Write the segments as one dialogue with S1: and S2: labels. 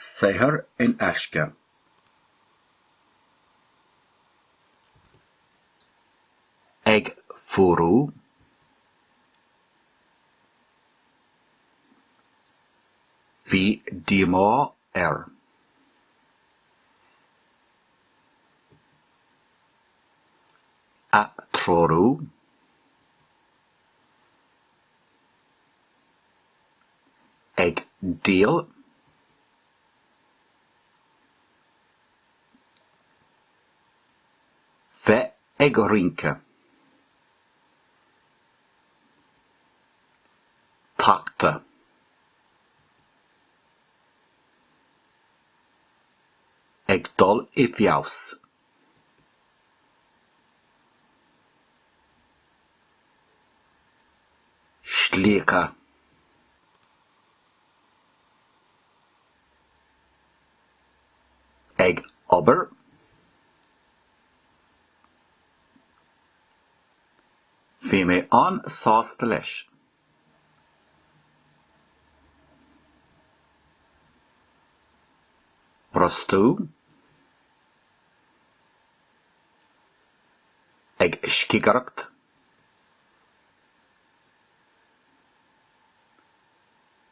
S1: Saothar in aisce! Ag fuarú? Bhí díomá air. atreorú, ag díol, bheith ag rince, tachtadh, ag dul i bhfeabhas. slíoctha. ag obair. Bhí mé an-sásta leis. brostú, ag scigireacht,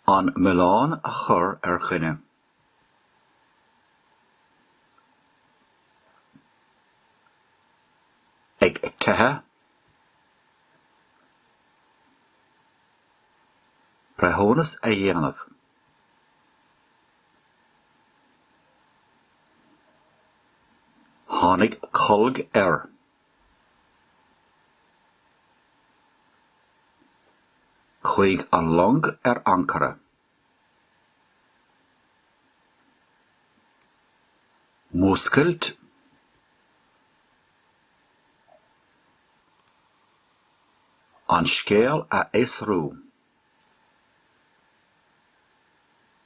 S1: an milleán a chur ar dhuine. ag teitheadh, breithiúnas a dhéanamh. Tháinig colg air. chuaigh an long ar ancaire. Múscailt. An scéal a fhiosrú.